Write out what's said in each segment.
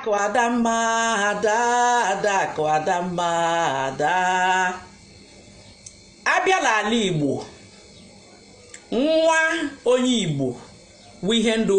Adakụ Adamma ada Adakụ Adamma ada abịa l'ala Igbo nwa onye Igbo wụ ihe ndị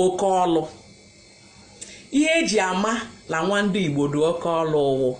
oke ọlụ ihe eji ama la nwa ndị Igbo dị oke ọlụ ọ wụ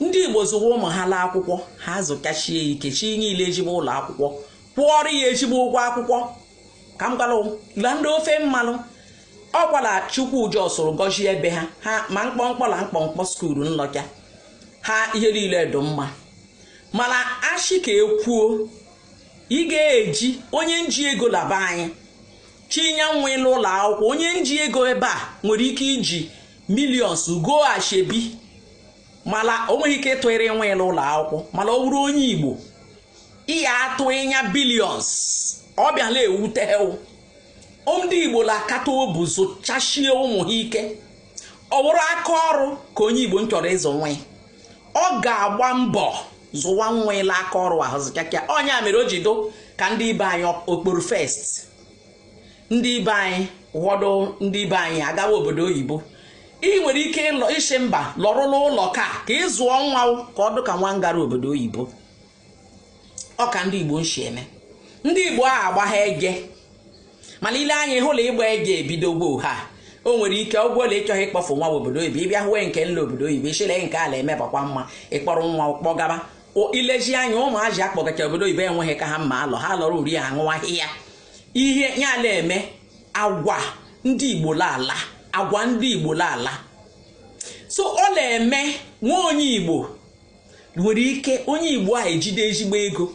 ndị Igbo zụwa ụmụ ha la akwụkwọ ha zụkachie ike chinye ya la ezigbo ụlọ akwụkwọ kwụọrọ ya ezigbo ụgwọ akwụkwọ ka m gwara la ndị ofe mmalụ ọ kwa la Chukwu jọsụrụ gọzie ebe ha ha ma mkpọmkpọ la mkpọmkpọ skuulu nlọcha ha ihe niile dị mma mala a sị ka e kwuo ị ga-eji onye nji ego la be anyị chinye nwa ya l'ụlọ akwụkwọ onye nji ego ebe a nwere ike iji millions go ashebi mala o nweghị ike ịtụịrị nwa ya l'ụlọ akwụkwọ mala ọ bụrụ onye igbo ị ya atụ ịnya billions ọ bịala ewute ewu ndị igbo la-akata obu zụchachie ụmụ ha ike ọ bụrụ aka ọrụ ka onye igbo nchọrọ ịzụ nwa ya ọ ga-agba mbọ zụwa nwa ya la aka ọrụ ahụ zụchakịa ọ ya mere o ji dụ ka ndị ibe anyị okporo first ndị ibe anyị ụfọdụ ndị ibe anyị agawa obodo oyibo ị nwere ike isi mba lọrụ l'ụlọ ka ka ị zụọ nwa ka ọ dụ ka nwa ngara obodo oyibo ọ ka ndị igbo nsi eme ndị igbo a agbagha ege mala i lee anya ị hụ la ịgba ege ebidogbo ha o nwere ike ọ wụ la ị chọghị ịkpọfụ nwa obodo oyibo ị bịa hụwe nke nlọ obodo oyibo ị sị la nke a la-emebakwa mma ị kpọrọ nwa kpọgaba O- i lezie anya ụmụazị a kpọgacha obodo oyibo enweghị ka ha mma alọ ha lọrọ uri ha ṅụwa ahịhịa ihe ya a la-eme agwa ndị igbo la-ala agwa ndị igbo la-ala so ọ la-eme nwa onye igbo nwere ike onye igbo a ejide ezigbo ego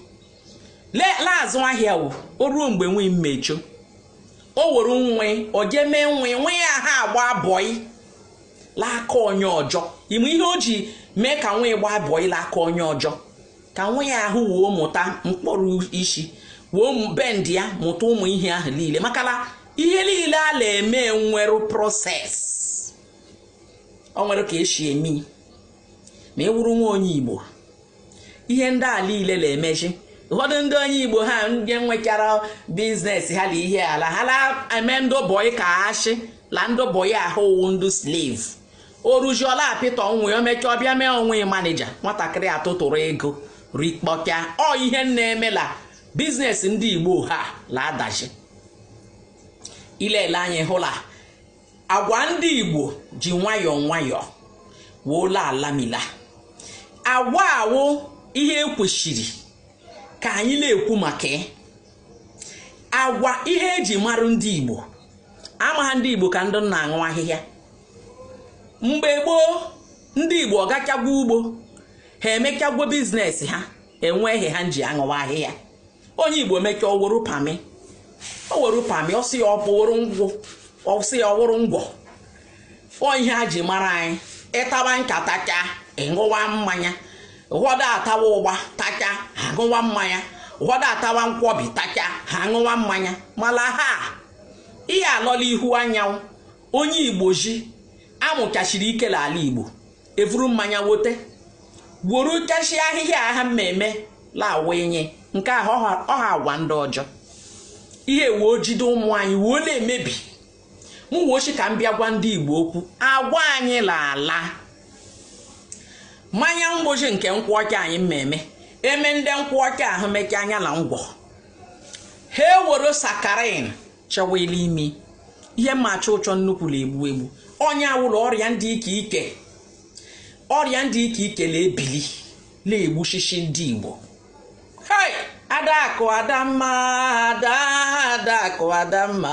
la-azụ ahịa o ruo mgbe nwa ya mmechọ o were nwa ya o jee mee nwa ya nwa ya ahụ agba bọị l'aka onye ọjọ ị ma ihe o ji mee ka nwa ya gbaa bọị l'aka onye ọjọ ka nwa ya ahụ wee mụta mkpọrọ isi wee bend ya mụta ụmụ ihe ahụ niile maka la ihe niile a la-eme nwere process o nwere ka e si eme ma ị wụrụ nwa onye igbo ihe ndị a niile la-emezi ụfọdụ ndị onye igbo ha ndị nwechara biznes ha la ihe a la ha la-eme ndị bọị ka a sị la ndị bọị ahụ wụ ndị slave o ruzie la-apịta nwa ya o mechaa ọ bịa mee nwa ya manija nwatakịrị atụtụrụ ego rikpọkịa ọ ihe na-eme la biznes ndị igbo ha la-adachi i lele anya ị hụ la agwa ndị igbo ji nwayọọ nwayọọ woo la-alami ala agwa a wụ ihe ekwesịrị ka anyị na-ekwu maka ya. agwa ihe eji marụ ndị igbo amaghị ndị igbo ka ndị na-aṅụ ahịhịa mgbe gboo ndị igbo ọ gachagwo ugbo ha emechagwo biznes ha enweghị ha ji aṅụwa ahịhịa onye igbo mechaa o woro pami o woro pami ọ sị ya o woro ngwọ ọ sị ya ọ wụrụ ngwọ ọ ihe a ji mara anyị ịtawa ncha tachaa ịṅụwa mmanya ụfọdụ atawa ụgba tachaa ha ṅụwa mmanya ụfọdụ atawa nkwọbi tachaa ha ṅụwa mmanya mala ha ihe alọla ihu anyanwụ onye igbo ji amụchachiri ike la ala igbo evuru mmanya wote gworo kashi ahịhịa aha mmemme lawa enye nke ahụ ọha agwa ndị ọjọọ ihe woo jide ụmụ anyị woo na-emebi m woo shị ka m bịa gwa ndị igbo okwu agwa anyị laala mmanya mgbochi nke nkwụ ọcha anyị mmemme eme ndị nkwụ ọcha ahụ mechaa anya na ngwọ ha ewere sakarin chọwa la ime ihe mma achọ ụchọ nnukwu na-egbu egbu onye ọwụla ọrịa ndị ike ike ọrịa ndị ike ike na-ebili na-egbushishi ndị igbo hai adakụ adamma ada adakụ adamma